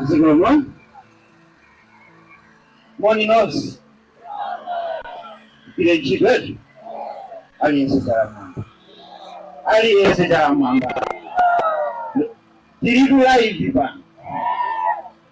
zikomo moni nonse tili live tsopano aliyense dzanja mmwamba aliyense dzanja mmwamba tilitu live pano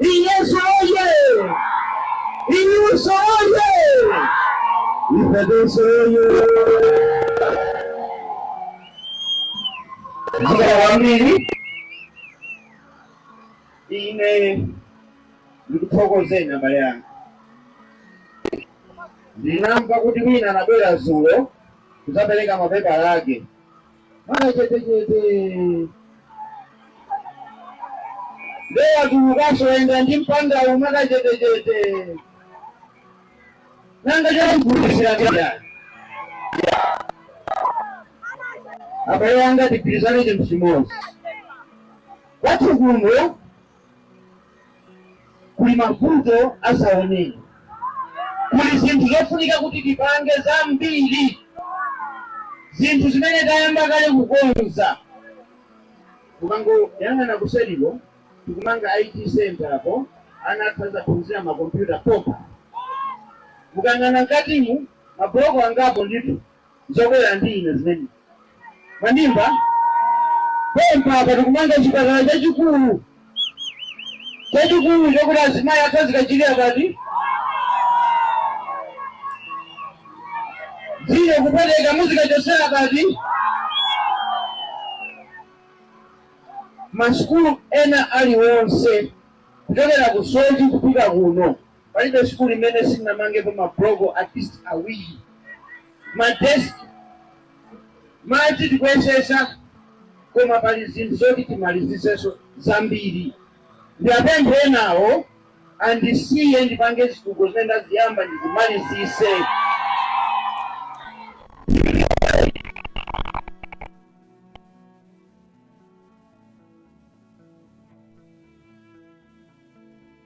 UDF oye! Iluso oye! Ipedeso oye! Mzee wa mnini ine ndikuthokozeni abale anga ndinamva kuti wina anabwera zulo kudzapereka mapepala ake mwakachetechete nde watulukanso wayenda ndi mpandawu mwakachetechete nanga chalakwika kaya abale anga tigwirizane chinthu chimodzi kwathu kuno Kuli mavuto asaoneni. Kuli zinthu zofunika kuti tipange zambiri, zinthu zimene tayamba kale kukonza. Mukangoyang'ana kuseriko, tikumanga IT centre apo, ana athu azaphunzire ma computer pompa. Mukayang'ana mkatimu, ma block angapo ndithu. zobwera ndi ine zimene. Mwandimva? Pompa apa tikumanga chipatala chachikulu, chachikulu chokuti azimayi athu azikachilira pati dzino kupweteka muzikachotsera pati masukulu ena aliwonse kuchokera ku soji kupita kuno Palibe sukulu imene sinamangepo ma block at least awiri, ma desk, madzi tikuyesetsa koma pali zinthu zoti timalizitsenso zambiri. Ndiwapemphe enawo andisiye ndipange zitukuko zimene ndaziyamba ndizimalizitse.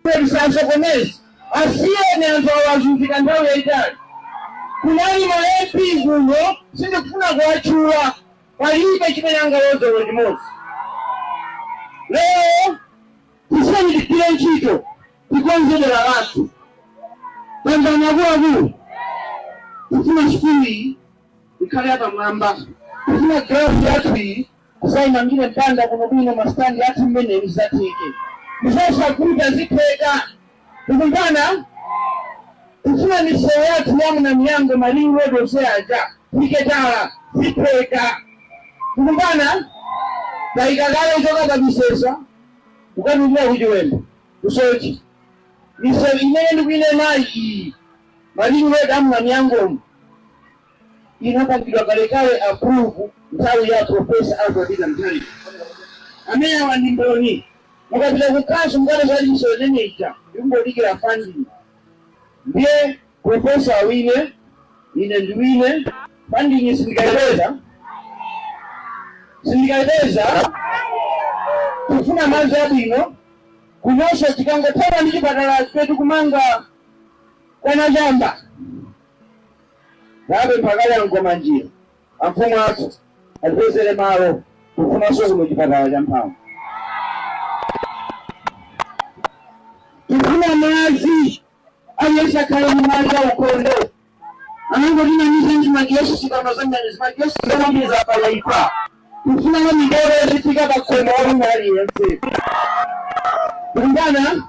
Tisasokoneze, asiyeni anthu awa azunzika nthawi yayitali. Kunali ma MP kuno sindikufuna kuwatchula palibe chimene angaloze olo limodzi. Lero tisiyeni tigwire ntchito tikonze dera lathu. Tamvani akuluakulu, tifuna sukulu iyi ikhale yapamwamba, tifuna ground yathu iyi Tidzaimangire mpanda wabwinobwino ma stand athu zimenezi zatheka. Ndizosakuta zitheka. Tikumvana? Tifuna misewu yathu ya Mnamiyambo Malinyi Road onse aja tiketala zitheka. Tikumvana? Taika kale kuchoka pa Misesa kukatulukira ku Chiwembe ku Soche misewu imene ndikuinenayi iyi Malinyi Road a Mnamiyambomu inapangidwa kalekale approve nthawi ya Professor Arthur Peter Mutharika. Amenewa ndi mboni. Mukapita ku council mukapeza kuti misewu imene ija ikungodikira funding. Ndiye professor awine, ine ndiwine, funding sindikaipeza? Sindikaipeza? Tikufuna madzi abwino kunonso tikangothana ndi chipatala chathu kumanga kwa Nachamba Ndapempha kale a Nkomanjira, amfumu athu, atipezere malo tikufunanso kuno chipatala cha mphamvu. Tifuna madzi aliyense akhale ndi madzi aukhondo anangotinamiza ndi makiosk sikano zimene zimakiosk zonamiza palaika Tikufuna madzi a mipope azifika pa khomo la wina aliyense. Tikumvana?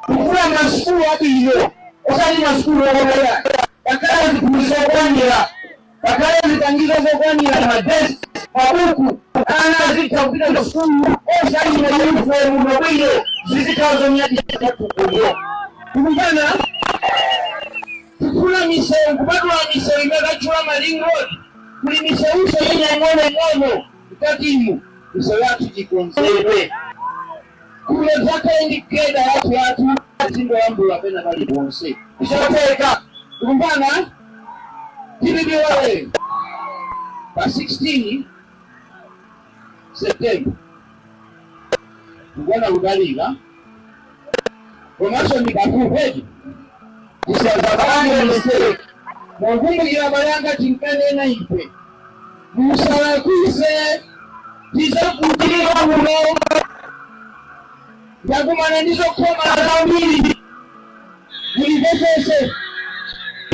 Tikufuna masukulu abwino osati masukulu okomera. Pakhale ziphunzitso zokwanira, pakhale zipangizo zokwanira, madesk, mabuku, ana azitha kupita ku sukulu osati mayunifomu mabwino zizikhala zonyadira patukudyo. Tikumvana? Tikufuna misewu kupatula misewu imene tatchula ma ring road Kuli misewunso ina ing'onoing'ono mkatimu misewu yathu ikonzedwe kuno tisakhale ndi geda yathu yathu zingolambula pena paliponse izi zatheka tikumvana? Tisaiwale pa 16 September kukuoneka kutalika komanso ndi pafupi tisazapange mistake mwakumbukira abale anga tinkanena ife musalakwise tizavutika kuno ndakumana ndi zokhoma zambiri mundimvetsetse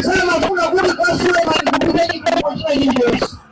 samafuna kuti kwa Suleman kupite chitukuko china chilichonse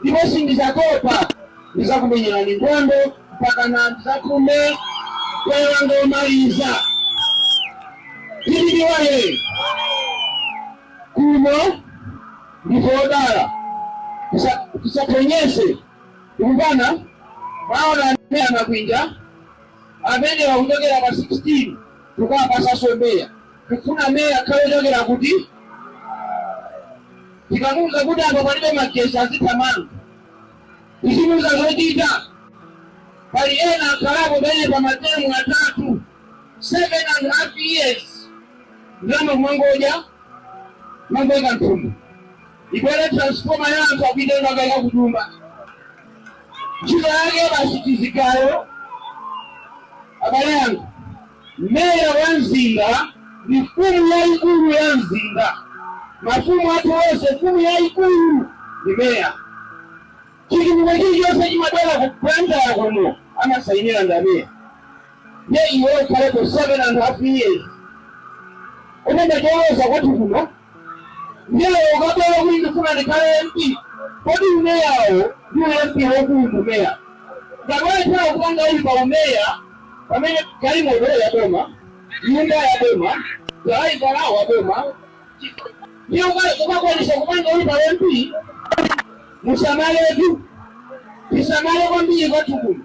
ndipo sindidzatopa. Ndidzakumenyerani nkhondo mpakana ndidzapume mpweya wanga womaliza. Dpp woyee! Kuno ndife odala, Tisa- tisaphonyese tikumvana mwaona meya makwinja amene akuchokera pa 16 tikawapatsanso meya tikufuna meya akhale wochokera kuti Tikamuuza kuti apo palibe magetsi azithamanga. Tizimuuza zochita. Pali ena akhalapo penepa matemu atatu, seven and half years, ndalama kumangodya, kumangoika mthumba. Ibwere transformer ya anthu akuitenga akaika kutumba. Ntchito yake basi zigayo abale anga. Meya wa mzinda ndi mfumu yaikulu ya mzinda. Mafumu athu onse, mfumu yaikulu ndi meya. Chitukuko chilichonse chimabwera ku Blantyre kuno amasainira ndi ameya. Ndiye iwe ukhalepo 7 and half years. Koma nchoyoloza kwathu kuno. Ndiye ukabwera kuti ndifuna ndikhale MP, kodi umeyawo ndi u MP waukulu ndi umeya? Ngati walephera kupanga uli pa umeya pamene galimoto ya boma, nyumba ya boma, dalaivala wa boma, ndiye ukakwanisa kupanga uli pa MP, musamaletu tisamale kwambiri kwathu kuno.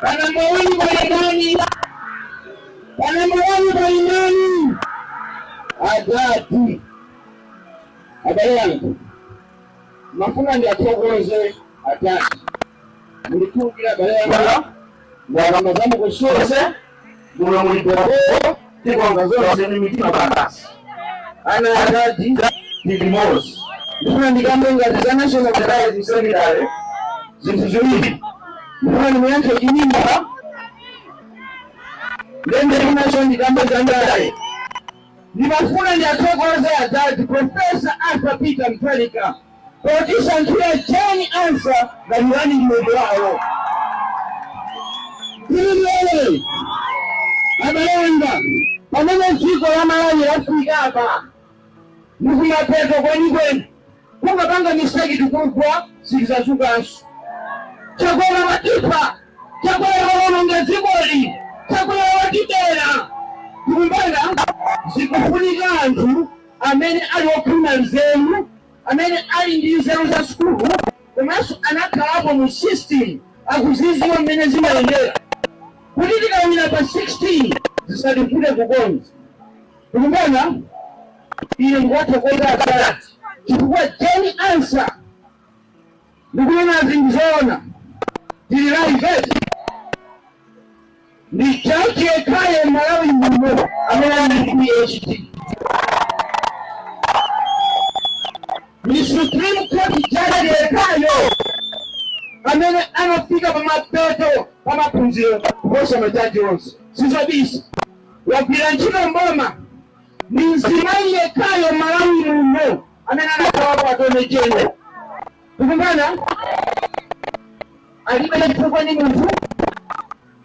Pa nambala wani pali ndani? Pa nambala wani pali ndani? Adadi. Abale anga ndimafuna ndiathokoze adadi ndikudziwa abale anga ndalama zamukusose muno mulibo tikonza zonse ndi mitima basi ana adadi ndi amodzi ndifuna ndikambe ngati national publicity secretary zinthu ziwiri ndifuna ndimuyankhe Chimwendo ndendende ndi nacho ndikambe za ndale ndimafuna ndiathokoze adadi profesa arthur peter mutharika potisankhira Jane Ansah ngati running mate wawo. Tili lero abale anga pamene dziko la Malawi lafika apa ndikumapeto kwenikweni tikangopanga mistake tikugwa sitidzadzukanso chakwera watipha chakwera waononga dzikoli chakwera watibera mukuona pakufunika anthu amene ali okhwima nzeru, amene ali ndi nzeru za sukulu komanso anakhalapo mu system akuziziwa mmene zimayendera kuti tikawina pa 16 zisativute kukonza. Mukuona? Ine ndikuwathokoza adadi chifukwa Jane Ansah Ndikunena zinthu zoona tili live eti? Ndi jaji yekhayo m'Malawi muno amene ali ndi PhD. Ndi Supreme Court judge yekhayo amene anafika pa mapeto pa maphunziro kuposa majaji onse. Sizobisa. Wagwira ntchito mboma ndi mzimayi yekhayo m'Malawi muno amene anathawapo atone jeno tikumvana alibe chifukwa ni munthu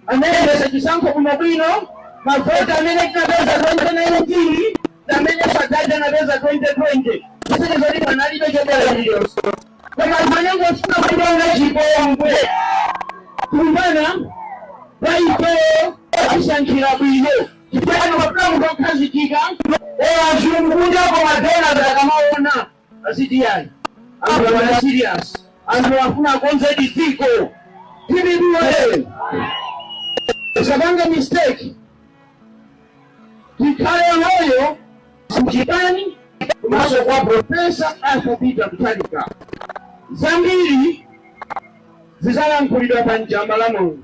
anayendesa chisankho kuno bwino mavoti amene tinapeza 2019 na amene sadadi anapeza 2020 zisonyeza zoti panalibe chobera chiliyonse koma anthu amene ofuna kupanga chipongwe tikumvana pa ifeyo asankhira bwino chifukwa chake pafuna munthu okhazikika olo azungu kunja ma donors akamaona aziti yayi anthu amene serious anthu afuna akonzedi dziko tilibiwele usapange mistake tikhale olowa mchipani komanso kwa profesa arthur peter mutharika zambiri zizalankhulidwa pa Njamba mulungu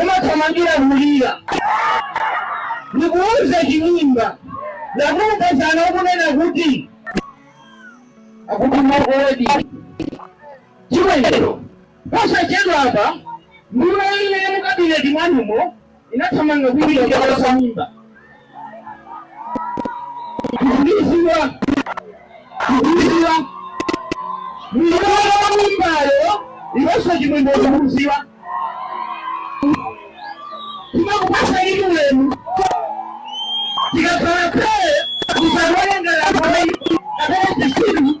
umathamangira kulira ndikuuza chimimba takuuza kale ukunena kuti akuti Mcdonald Chimwendo posachedwa apa nduna imene mukabineti mwanumo inathamanga kulira mimba kutumizidwa kutumizidwa mwana wa mimbayo iponso Chimwendo udziwe timakupasa ulemu tikakhala pee usawerenge lakwai kapena zisiru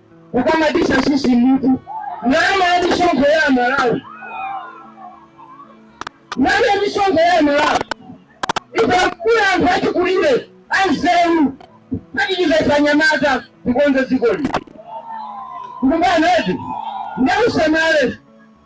kukamabisa sisi munthu ndalama ya misonkho ya amalawi ndalama ya misonkho ya amalawi ikakula anthu achikulire anzeru atithandize anyamata tikonze dziko lino tikumvana eti ndiye usamale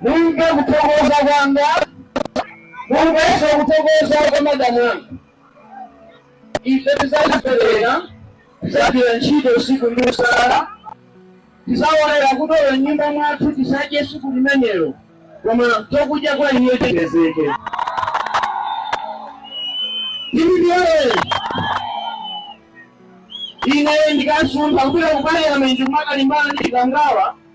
mumve kuthokoza kwanga mumvenso kuthokoza kwa madamu anga ife tizazipereka tizagwira ntchito usiku ndi usana tizalolera kuti olo nyumba mwathu tisadye tsiku limenelo koma chakudya kwa iye chipezeke tili ndi iwowo ine ndikasamuka kupita ku parliament kumakalimbana ndi chikangawa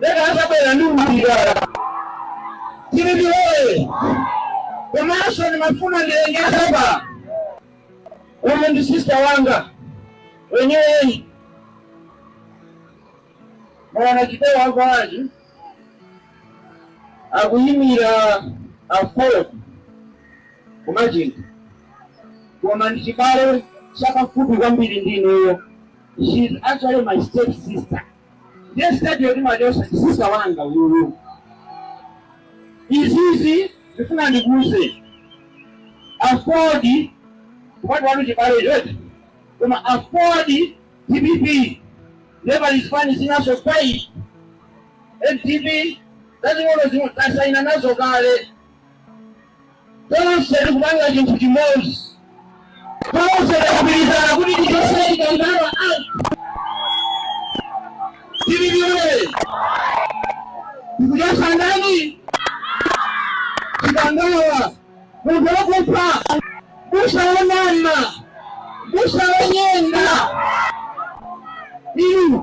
Leka atabwera ndi umbidala tili ndi iwowo komanso ndimafuna ndilengeze apa uyu ndi sista wanga wenyeweni mwana Chitewa a Kwaji akuyimira Aford kumachinga koma ndi chibale chapafupi kwambiri ndi ineyo she is actually my step sister ndiye siteji yes my sister wanga uyuyu izizi ndifuna ndikuze aford kupati wanu chibale choti koma aford dpp never is fine zinazo pa dpp zazing'ono zimene tasayina nazo kale Tonse tikupanga chinthu chimodzi. Tonse tikugwirizana kuti tichose Chikangawa out. Tili limodzi. Tikuchosa ndani? Chikangawa. Munthu wakupha. Busa wonama. Busa wonyenga. Inu.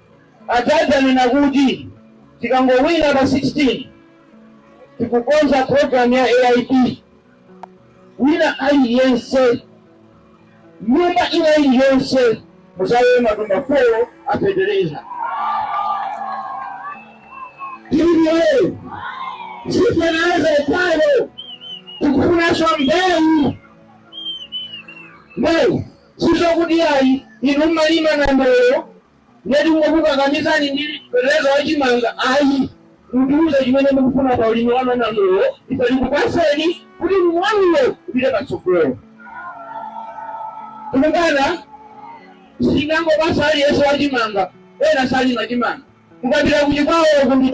Atate anena kuti tikangowina pa 16 tikukonza program ya AIP. Wina aliyense nyumba ina iliyonse muzakhale matumba 4 a fetereza. Hivyo sisi tunaweza pano tikufunaso mbeu mbeu Sizokuti ayi inu mmalima nandolo nde tingokukakamizani ndi fertilizer wa chimanga ayi, mutiuze chimene mukufuna pa ulimi wanu wa nandolo ife tikupaseni kuti ulimi wanuwo upite patsogolo. Tikumvana? Sitingangopasa aliyense wa chimanga ena salima chimanga, mukapita ku Chikwawa uko ndi.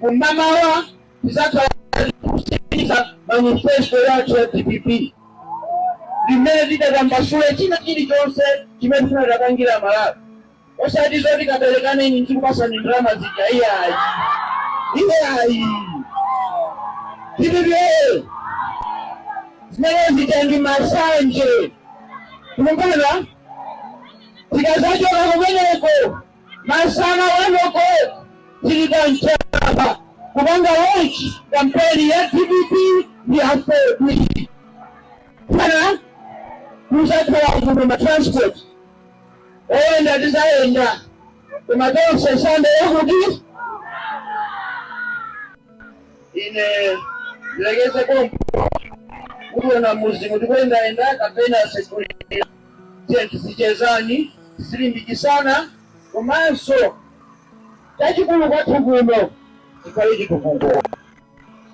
Kum'mawa tidzakhala tikusindikiza manifesto yathu ya DPP ndi mmene tizatambasule china chilichonse chimene tifuna tizapangire Amalawi, osati zoti kaberekaneni ndikupasani ndalama zija iyayi, iyayi. Dpp ee! Zimene zija ndi masanje, tikumvana tikazachoka kumeneko Masana one o'clock tili pa Mjamba kupanga launch kampeni ya dpp ndi aford pano kuzakhala kuno ma transport oyenda tizayenda koma tonse sande ya kuti ine ndilekeze pompo kuona muzimu tikuyendayenda kapena sekulira Tiyeni tizichezani, tizilimbikitsana komanso chachikulu kwathu kuno chikhale chitukuko.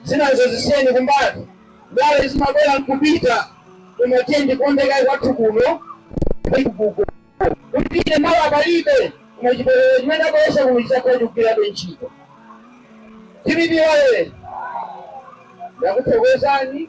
Zinazo zisiyeni kumbali, ndale zimabwera n'kupita koma tiyeni tikonde kaye kwathu kuno chitukuko. Kupita mawa palibe koma chipolopolo chimene tabweretsa kuno chidzakhala chikugwirabe ntchito. Dpp woyee! Ndakuthokozani.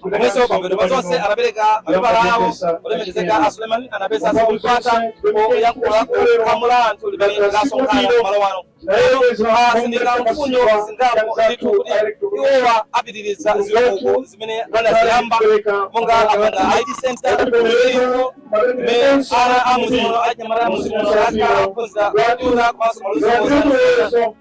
Komanso pambuyo pa zonse anapereka mapepala awo olemekezeka a Suleiman anapeza mpata oyankhula kwa mulandu limene linasonkhana kumalo ano lero atsindika mfundo zingapo ndithu kuti iwowa apitiriza zitukuko zimene anaziyamba monga kupanga id center kumeneko kumene ana a mmudzi muno anyamata a mmudzi muno akaphunzira kutuza komanso maluzi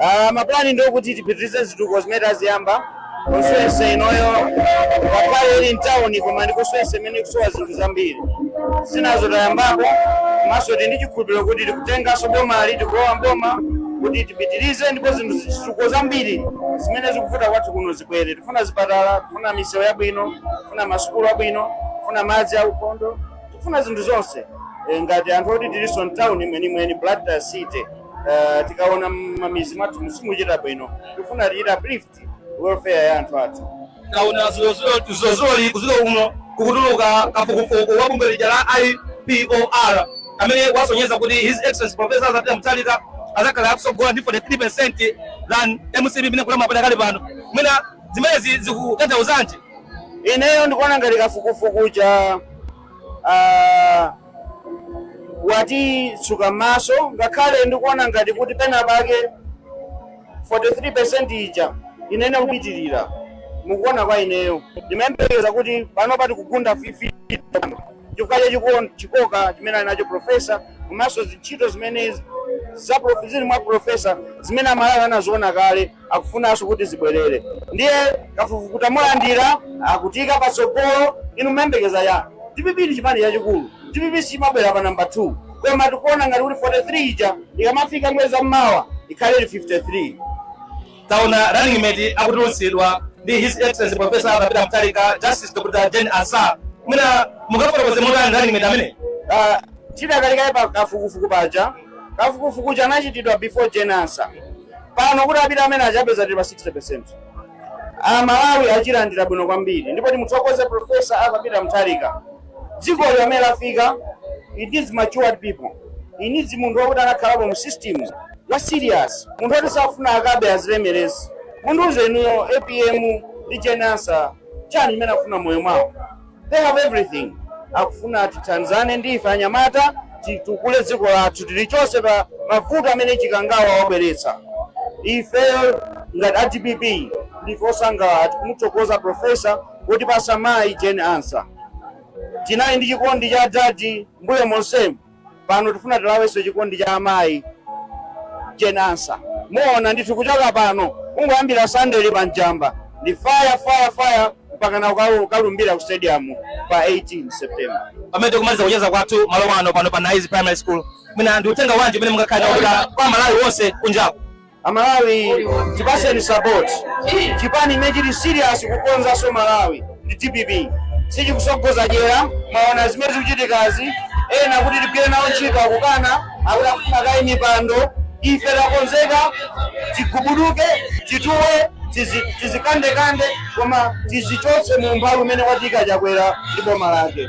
Uh, mapulani ndi okuti tipitirize zitukuko zimene taziyamba constituency inoyo ngakhale ili mtawuni koma ndi constituency imene ikusowa zinthu zambiri zinazo tayambapo komanso tili ndi chikhulupiriro kuti tikutenganso bomali tikulowa mboma kuti tipitirize ndipo zinthu zitukuko zambiri zimene zikuvuta kwathu kuno zibwere tifuna zipatala tifuna misewu yabwino tifuna masukulu abwino tifuna madzi aukhondo tifuna zinthu zonse Eh, ngati anthu oti tilinso mtawuni mwenimweni blantyre city uh, tikaona mmamizi mwathu simukuchita bwino tifuna tichite uplift welfare ya anthu athu kaona zilozoli kuziko kuno kwatuluka kafukufuku wa bungwe lija la IPOR amene wasonyeza kuti his excellency professor Arthur Peter Mutharika azakhala akusogola ndi 43% than MCP imene ikulamula pakali pano mwina zimenezi zikutanthauzanji ineyo ndikuona ngati kafukufuku cha ah, watitsuka m'maso ngakhale ndikuona ngati kuti pena pake 43% ija inene kupitirira mukuona kwa ineyo ndimayembekeza kuti pano pati kugunda fifty chifukwa cha chiko- chikoka chimene ali nacho profesa komanso zintchito zimene za prof- zili mwa profesa zimene amalawi anaziona kale akufunanso kuti zibwerere ndiye kafukufuku tamulandira akutiika patsogolo ife timayembekeza dpp ndi chipani chachikulu dpp sichimabwera pa namba 2 koma tikuona ngati kuti 43 ija ikamafika mwezi wa mmawa ikhale ili 53 taona running mate akutulutsidwa ndi his excellency professor Arthur Peter Mutharika justice Dr. Jane Ansah mwina mungafotokoze motani running mate amene Ah, tidakali kaye pa kafukufuku paja kafukufuku uja anachitidwa before Jane Ansah pano kuti apite mmene akapeza tili pa 60% amalawi achilandira bwino kwambiri ndipo timuthokoze profesa arthur peter mutharika dziko mmene lafika it needs matured people it needs munthu wakuti anakhalapo mu system wa serious munthu woti safuna akabe azilemeretse mundiuze inuyo apm ndi Jane Ansah chani chimene afuna moyo mwawo they have everything akufuna atithandize ndi ife anyamata titukule dziko lathu tilichose pa mavuto amene chikangawa wabweretsa ifeyo ngati a dpp ndife osangalala tikumuthokoza profesa kuti watipatsa mayi jane ansah tinali ndi chikondi cha adadi mbuyo monsemu pano tifuna tilawenso chikondi cha amayi Jane Ansah muona ndithu kuchoka pano kungoyambira Sunday-li pa Njamba ndi fire fire fire mpaka na ukalu- ukalumbira ku stadium pa 18 september pamene tikumaliza kucheza kwathu malo ano pano pa naizi primary school mwina ndi uthenga wanji umene mungakhale nawo kwa Amalawi wonse kunjaku Amalawi tipaseni support chipani imene chili serious kukonzanso Malawi ndi dpp sichikutsogoza dyera mwaona zimene zikuchitikazi ena kuti tigwire nawo ntchito akukana akuti akufuna kaye mipando ife takonzeka tigubuduke tituwe tizi- tizikandekande koma tizichotsa mu umphawi umene watika chakwera ndi boma lake